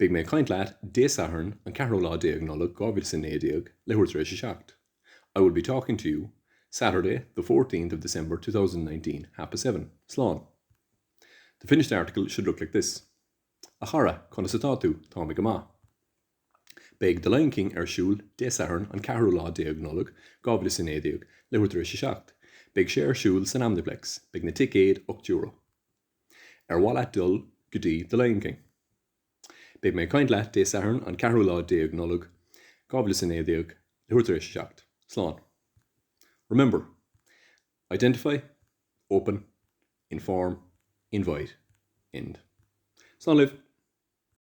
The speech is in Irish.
Beidh mé ag caint leat Dé Sathairn an ceathrú lá déag Nollag 2019 leathuair tar éis a seacht I will be talking to you Saturday the fourteenth of December two thousand and nineteen half past seven. Slán. The finished article should look like this A chara, conas atá tú? Tá mé go maith. Beidh The Lion King ar siúl Dé Sathairn an ceathrú lá déag Nollag 2019 leathuair tar éis a seacht. Beidh sé ar siúl san Omniplex. Beidh na ticéid ocht euro. Ar mhaith leat dul go dtí The Lion King? Beidh mé ag caint leat Dé Sathairn an ceathrú lá déag Nollag, dhá mhíle is a naoi déag, leathuair tar éis a seacht. Slán. Remember, Identify, Open, Inform, Invite, End. Slán libh!